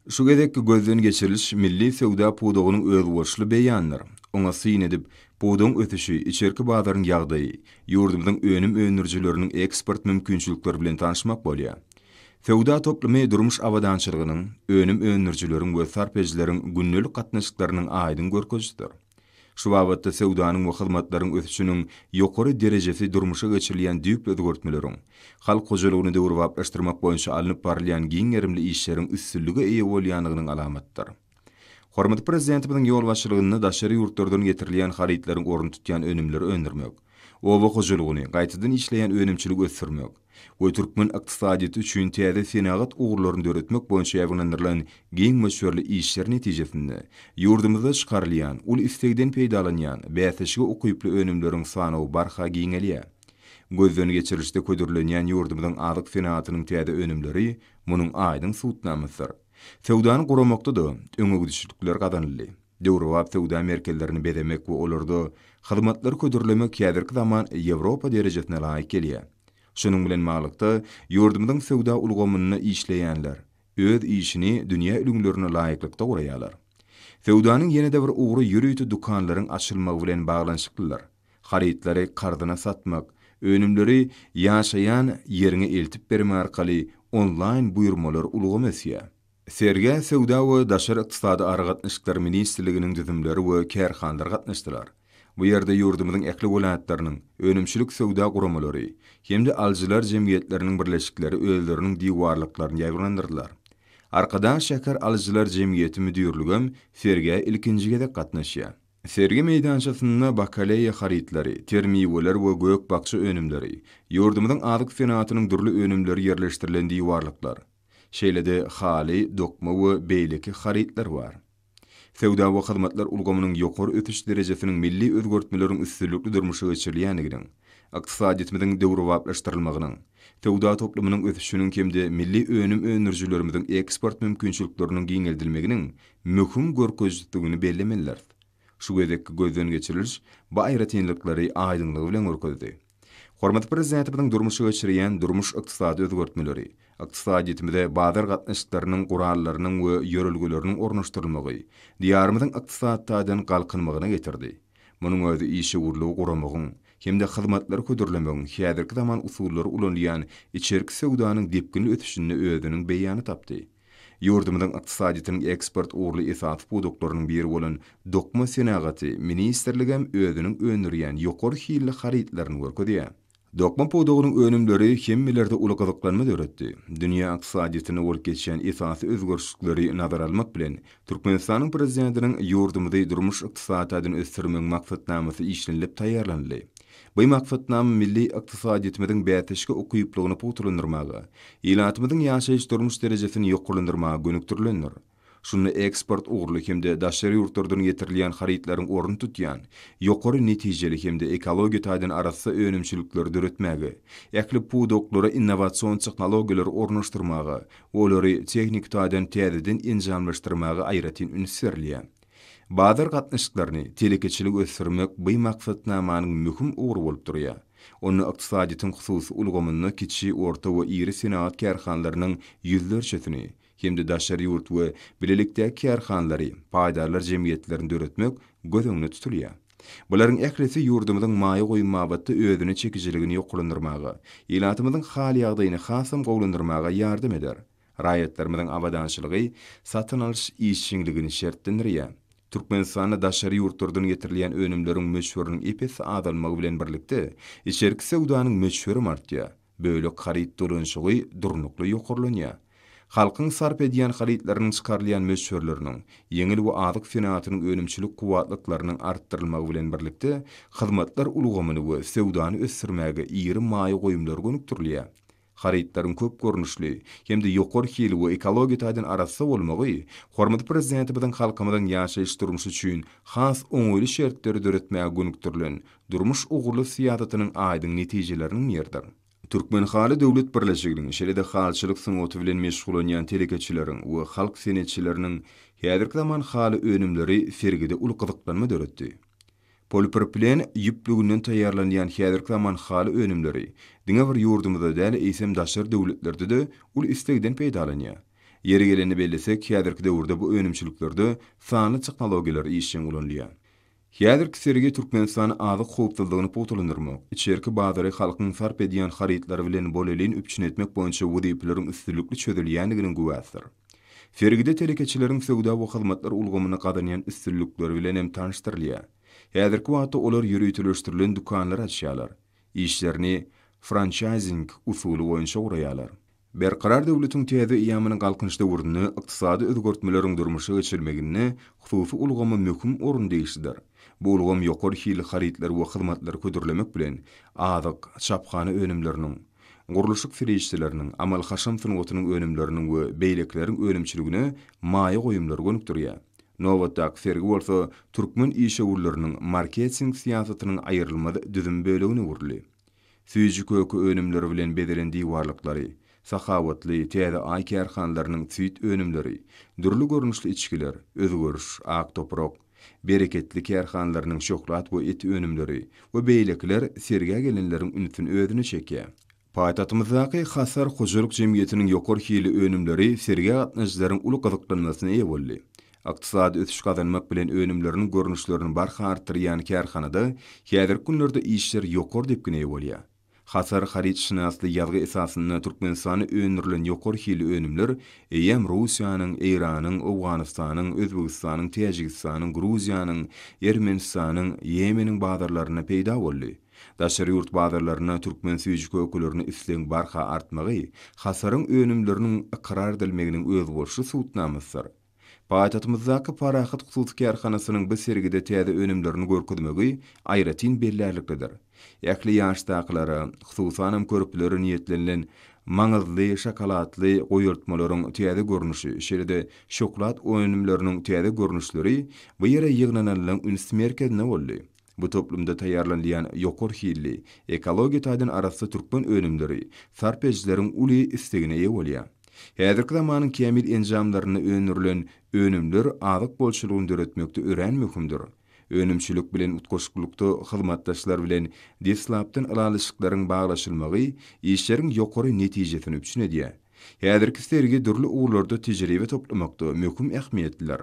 Şu gezekki gözden geçiriliş milli söwda pudagynyň özboluşly beýanydyr. Oňa syn edip, pudagyň ösüşi, içerki bazaryň ýagdaýy, ýurdumyzyň önüm öndürijileriniň eksport mümkinçilikleri bilen tanyşmak bolýar. Söwda toplumy durmuş abadançylygynyň, önüm öndürijileriň we sarp edijileriň gündelik gatnaşyklarynyň aýdyň görkezijisidir. Şu babatda söwdanyň we hyzmatlaryň ösüşiniň ýokary derejesi durmuşa geçirilýän düýpli özgertmeleriň, halk hojalygyny döwrebaplaşdyrmak boýunça alnyp barylýan giň gerimli işleriň üstünlige eýe bolýandygynyň alamatydyr. Hormatly Prezidentimiziň ýolbaşçylygynda daşary ýurtlardan getirilýän harytlaryň ornuny tutýan önümleri öndürmek, oba hojalygyny, gaýtadan işleýän önümçiligi ösdürmek, we türkmen ykdysadyýeti üçin täze senagat ugurlaryny döretmek boýunça ýaýbaňlandyrylan giň möçberli işler netijesinde, ýurdumyzda çykarylýan, uly islegden peýdalanýan, bäsleşige ukyply önümleriň sanawy barha giňelýär. Gözden geçirilişde hödürlenýän ýurdumyzyň azyk senagatynyň täze önümleri munuň aýdyň subutnamasydyr. Söwdany guramakda-da öňegidişlikler gazanyldy. Döwrebap söwda merkezlerini bezemek we olarda hyzmatlary hödürlemek häzirki zaman Ýewropa derejesine laýyk gelýär. Şunuň bilen baglykda, ýurdumyzyň söwda ulgamynda işleýänler öz işini dünýä ülňülerine laýyklykda guraýarlar. Söwdanyň ýene-de bir ugry ýörite dükanlaryň açylmagy bilen baglanyşyklydyr. Harytlary karzyna satmak, önümleri ýaşaýan ýeriňe eltip berme arkaly onlaýn buýurmalar ulgamy ösýär. Sergä Söwda we daşary ykdysady aragatnaşyklar ministrliginiň düzümleri we kärhanalar gatnaşdylar. Bu ýerde ýurdumyzyň ähli welaýatlarynyň önümçilik söwda guramalary hem-de alyjylar jemgyýetleriniň birleşikleri özleriniň diwarlyklaryny ýaýbaňlandyrdylar. Arkadag şäher alyjylar jemgyýeti müdirligem sergä ilkinji gezek gatnaşýar. Sergi meýdançasynda bakaleýa harytlary, ter miweler we gök-bakja önümleri, ýurdumyzyň azyk senagatynyň dürli önümleri ýerleşdirilen diwarlyklar, Şeýle-de haly, dokma we beýleki harytlar bar. Söwda we hyzmatlar ulgamynyň ýokary ösüş derejesiniň milli özgertmeleriň üstünlikli durmuşa geçirilýändiginiň, ykdysadyýetimiziň döwrebaplaşdyrylmagynyň, söwda toplumynyň ösüşiniň hem-de milli önüm öndürijilerimiziň eksport mümkinçilikleriniň giňeldilmeginiň möhüm görkezijidigini bellemelidiris. Şu gezekki gözden geçiriliş bu aýratynlyklary aýdyňlygy bilen görkezdi. Hormatly Prezidentimiziň durmuşa geçirýän durmuş-ykdysady özgertmeleri, ykdysadyýetimize bazar gatnaşyklarynyň gurallarynyň we ýörelgeleriniň ornaşdyrylmagy Diýarymyzyň ykdysady taýdan galkynmagyna getirdi. Munuň özi işewürligi guramagyň hem-de hyzmatlary hödürlemegiň häzirki zaman usullary ulanylýan içerki söwdanyň depginli ösüşinde özüniň beýany tapdy. Ýurdumyzyň ykdysadyýetiniň eksport ugurly esasy pudaklarynyň biri bolan dokma senagaty ministrligem özüniň öndürýän ýokary hilli harytlaryny görkezýär. Dokma pudagynyň önümleri hemmelerde uly gyzyklanma döretdi. Dünýä ykdysadyýetinde bolup geçýän esasy özgerişlikleri nazara almak bilen, Türkmenistanyň Prezidentiniň Ýurdumyzy durmuş-ykdysady taýdan ösdürmegiň maksatnamasy işlenilip taýýarlanyldy. Bu maksatnama milli ykdysadyýetimiziň bäsdeşlige ukyplygyny pugtalandyrmaga, ilatymyzyň ýaşaýyş-durmuş derejesini ýokarlandyrmaga gönükdirilendir. Şunda eksport ugurly hem-de daşary ýurtlardan getirilýän harytlaryň ornuny tutýan ýokary netijeli hem-de ekologiýa taýdan arassa önümçilikleri döretmäge, ähli pudaklara innowasion tehnologiýalary ornaşdyrmaga we olary tehniki taýdan täzeden enjamlaşdyrmaga aýratyn üns berilýär. Bazar gatnaşyklaryny, telekeçiligi ösdürmek bu maksatnamanyň möhüm ugry bolup durýar. Onda ykdysadyýetiň hususy ulgamynda kiçi, orta we iri senagat kärhanalarynyň ýüzlerçesini hem-de daşary ýurt we bilelikdäki kärhanalary, paýdarlar jemgyýetlerini döretmek göz öňünde tutulýar. Bularyň ählisi ýurdumyzyň maýa goýum babatda özüne çekijiligini ýokarlandyrmaga, ilatymyzyň hal-ýagdaýyny hasam gowulandyrmaga ýardam eder. Raýatlarymyzyň abadançylygy satyn alyş işjeňligini şertlendirýär. Türkmenistanda daşary ýurtlardan getirilýän önümleriň möçberiniň ep-esli azalmagy bilen birlikde, içerki söwdanyň möçberim artýar, bölek haryt dolanyşygy durnukly ýokarlanýar. Halkyň sarp edýän harytlarynyň çykarylýan möçberleriniň, ýeňil we azyk senagatynyň önümçilik kuwwatlyklarynyň artdyrylmagy bilen birlikde, hyzmatlar ulgamyny we söwdany ösdürmäge iri maýa goýumlar gönükdirilýär. Harytlaryň köp görnüşli hem-de ýokary hili we ekologiýa taýdan arassa bolmagy hormatly Prezidentimiziň halkymyzyň ýaşaýyş-durmuşy üçin has oňaýly şertleri döretmäge gönükdirilen durmuş ugurly syýasatynyň aýdyň netijeleriniň biridir. Türkmenhaly döwlet birleşiginiň, şeýle-de halyçylyk sungaty bilen meşgullanýan telekeçileriň we halk senetçileriniň häzirki zaman haly önümleri sergide uly gyzyklanma döretdi. Polipropilen ýüplüginden taýýarlanýan häzirki zaman haly önümleri diňe bir ýurdumyzda däl, eýsem daşary döwletlerde-de uly islegden peýdalanýar. Ýeri gelende bellesek, häzirki döwürde bu önümçiliklerde sanly tehnologiýalar işjeň ulanylýar. Häzirki sergi Türkmenistan azyk howpsuzlygyny pugtalandyrmak, içerki bazary halkyň sarp edýän harytlary bilen bolelin üpjün etmek boýunça wezipeleriň üstünlikli çözülýändiginiň güwäsidir. Sergide telekeçileriň söwda we hyzmatlar ulgamynda gazanýan üstünlikleri bilen hem tanyşdyrylýar. Häzirki wagtda olar ýöriteleşdirilen dükanlar açýarlar, işlerini françaýzing usuly boýunça guraýarlar. Berkarar döwletiň täze eýýamynyň Galkynyş döwründe ykdysady özgertmeleriň durmuşa geçirilmeginde hususy ulgama möhüm orun degişlidir. Bu ulgam ýokary hilli harytlary we hyzmatlary hödürlemek bilen, azyk, çaphana önümleriniň, Gurluşyk serişdeleriniň, amal-haşam sungatynyň önümleriniň we beýlekileriň önümçiligine maýa goýumlary gönükdirýär. Nobatdaky sergi bolsa türkmen işewürleriniň marketing syýasatynyň aýrylmaz düzüm bölegine öwrüldi. Süýji köke önümleri bilen bezelen diwarlyklary, Sahawatly, Täze Aý kärhanalarynyň süýt önümleri, dürli görnüşli içgiler, Özgeriş, Ak toprak, Bereketli kärhanalarynyň şöhlat we et önümleri we beýlekiler sergä gelenleriň ünsüni özüne çekýär. Paýtagtymyzdaky Hasar hojalyk jemgyýetiniň ýokary hilli önümleri sergä gatnaýjylaryň uly gyzyklanmasyna eýe boldy. Ykdysady ösüş gazanmak bilen önümleriniň görnüşlerini barha artdyrýan kärhanada häzirki günlerde işler ýokary depgine eýe bolýar. Hasar harytşynasly ýazgy esasynda Türkmenistanda öndürilen ýokary hilli önümler eýýäm Russiýanyň, Eýranyň, Owganystanyň, Özbegistanyň, Täjigistanyň, Gruziýanyň, Ermenistanyň, Ýemeniň bazarlarynda peýda boldy. Daşary ýurt bazarlarynda türkmen süýji kökelerini islegiň barha artmagy Hasaryň önümleriniň ykrar edilmeginiň özboluşly subutnamasydyr. Paýtagtymyzdaky Parahat hususy kärhanasynyň bu sergide täze önümlerini görkezmegi aýratyn bellärliklidir. Ähli ýaşdakylara, hususanam körpelere niýetlenilen maňyzly şokoladly goýultmalaryň täze görnüşi, şeýle-de şoklad önümleriniň täze görnüşleri bu ýere ýygnananlaň üns merkezine boldy. Bu toplumda taýýarlanylýan ýokary hilli, ekologiýa taýdan arassa türkmen önümleri sarp edijileriň uly islegine eýe bolýar. Häzirki zamanyň kämil enjamlarynda öndürilen önümler azyk bolçulygyny döretmekde örän möhümdir. Önümçilik bilen utgaşyklykda hyzmatdaşlar bilen deslapdan ylalaşyklaryň baglaşylmagy işleriň ýokary netijesini üpjün edýär. Häzirki sergi dürli ugurlarda tejribe toplamakda möhüm ähmiýetlidir.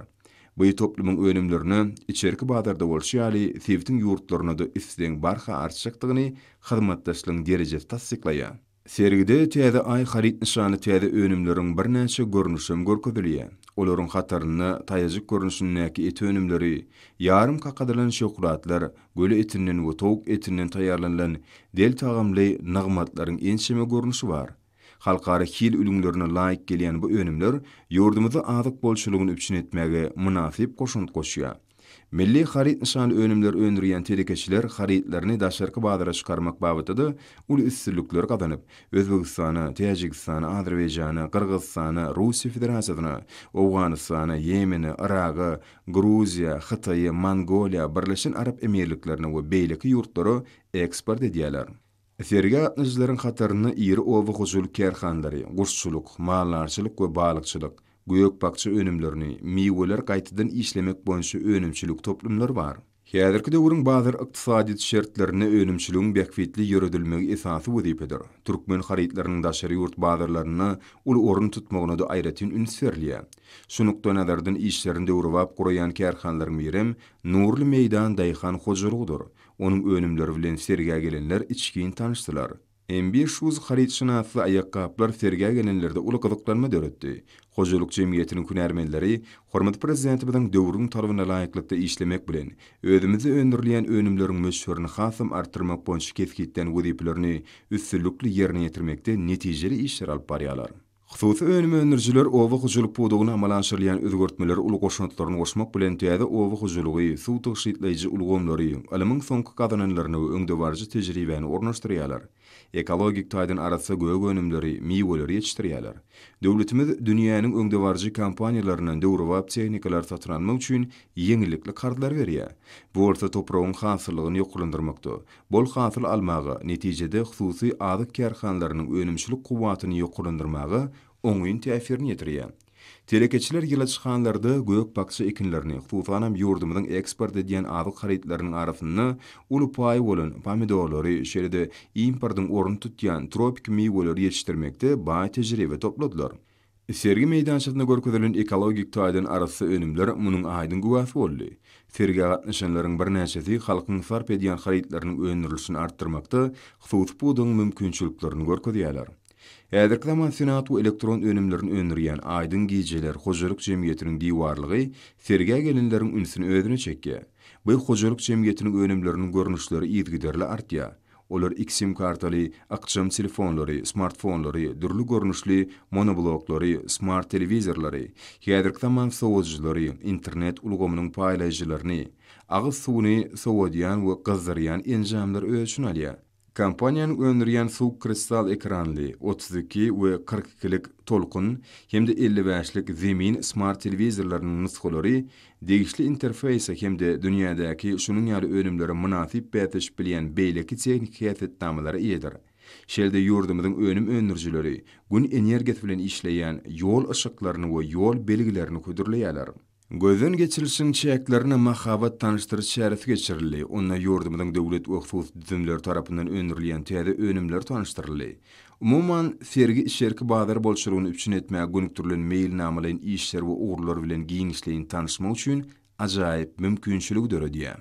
Bu toplumyň önümlerine içerki bazarda bolşy ýaly sebitiň ýurtlaryna-da islegiň barha artjakdygyny hyzmatdaşlygyň derejesi tassyklaýar. Sergide Täze Aý haryt nyşanly täze önümleriň birnäçe görnüşi hem görkezilýär. Olaryň hatarynda taýajyk görnüşindäki et önümleri, ýarym kakadylan şöhratlar, göle etinden we towuk etinden taýýarlanylan del tagamly nygmatlaryň ençeme görnüşi bar. Halkara hil ülňülerine laýyk gelýän bu önümler ýurdumyzda azyk bolçulygyny üpjün etmäge mynasyp goşant goşýar. Milli haryt nyşanly önümler öndürýän telekeçiler harytlaryny daşarky bazara çykarmak babatda-da uly üstünlikler gazanyp, Özbegistana, Täjigistana, Azerbaýjana, Gyrgyzystana, Russiýa Federasiýasyna, Owganystana, Ýemene, Yraga, Gruziýa, Hytaýa, Mongoliýa, Birleşen Arap Emirliklerine we beýleki ýurtlara eksport edýärler. Sergä gatnaşyjylaryň hatarynda iri oba hojalyk kärhanalary, guşçulyk, maldarçylyk we balykçylyk, gök-bakja önümlerini, miweleri gaýtadan işlemek boýunça önümçilik toplumlary bar. Häzirki döwrüň bazar ykdysadyýeti şertlerinde önümçiligiň bähbitli ýöredilmegi esasy wezipedir. Türkmen harytlarynyň daşary ýurt bazarlarynda uly orun tutmagyna-da aýratyn üns berilýär. Şu nukdaýnazardan işlerini döwrebap guraýan kärhanalaryň birem Nurly meýdan daýhan hojalygydyr. Onuň önümleri bilen sergä gelenler içgin tanyşdylar. MBShoes harytşynasly aýakgaplar sergä gelenlerde uly gyzyklanma döretdi. Hojalyk jemgyýetiniň hünärmenleri hormatly Prezidentimiziň döwrüň talabyna laýyklykda işlemek bilen, özümizde öndürilýän önümleriň möçberini hasam artdyrmak boýunça kesgitlän wezipelerini üstünlikli ýerine ýetirmekde netijeli işler alyp barýarlar. Hususy önüm öndürijiler oba hojalyk pudagynda amala aşyrylýan özgertmelere uly goşantlaryny goşmak bilen, täze oba hojalygy, suw tygşytlaýjy ulgamlary, ylmyň soňky gazananlaryny we öňdebaryjy tejribäni ornaşdyrýarlar. Ekologik taýdan arassa gök önümleri, miweleri ýetişdirýärler. Döwletimiz dünýäniň öňdebaryjy kompaniýalaryndan döwrebap tehnikalar satyn almak üçin ýeňillikli karzlar berýär. Bu bolsa topragyň hasyllygyny ýokarlandyrmakda, bol hasyl almaga, netijede hususy azyk kärhanalarynyň önümçilik kuwwatyny ýokarlandyrmaga oňyn täsirini ýetirýär. Telekeçiler ýyladyşhanlarda gök-bakja ekinlerini, hususanam ýurdumyzyň eksport edýän azyk harytlarynyň arasynda uly paýy bolan pomidorlary, şeýle-de importyň ornuny tutýan tropiki miweleri ýetişdirmekde baý tejribe topladylar. Sergi meýdançasynda görkezilen ekologik taýdan arassa önümler munuň aýdyň güwäsi boldy. Sergä gatnaşanlaryň birnäçesi halkyň sarp edýän harytlarynyň öndürilişini artdyrmakda hususy pudagyň mümkinçiliklerini görkezýärler. Häzirki zaman senat we elektron önümlerini öndürýän Aýdyň gijeler hojalyk jemgyýetiniň diwarlygy sergä gelenleriň ünsüni özüne çekýär. Bu hojalyk jemgyýetiniň önümleriniň görnüşleri yzygiderli artýar. Olar iki sim-kartaly, ykjam telefonlary, smartfonlary, dürli görnüşli monobloklary, smart-telewizorlary, häzirki zaman sowadyjylary, internet ulgamynyň paýlaýjylaryny, agyz suwuny sowadýan we gyzdyrýan enjamlary öz içine alýar. Kompaniýanyň öndürýän suw kristal ekranly, otuz iki we kyrk ikilik Tolkun hem-de elli bäşlik Zemin smart-telewizorlarynyň nusgalary Degişli interfeýse hem-de dünýädäki şunuň ýaly önümlere mynasyp bäsleşip bilýän beýleki tehniki häsiýetnamalara eýedir. Şeýle-de ýurdumyzyň önüm öndürijileri Gün energiýasy bilen işleýän ýol yşyklaryny we ýol belgilerini hödürleýärler. Gözden geçirilişiň çäklerinde mahabat tanyşdyryş çäresi geçirildi, onda ýurdumyzyň döwlet we hususy düzümleri tarapyndan öndürilýän täze önümler tanyşdyryldy. Umuman, sergi içerki bazar bolçulygyny üpjün etmäge gönükdirilen meýilnamalaýyn işler we ugurlar bilen giňişleýin tanyşmak üçin ajaýyp mümkinçiligi döredýär.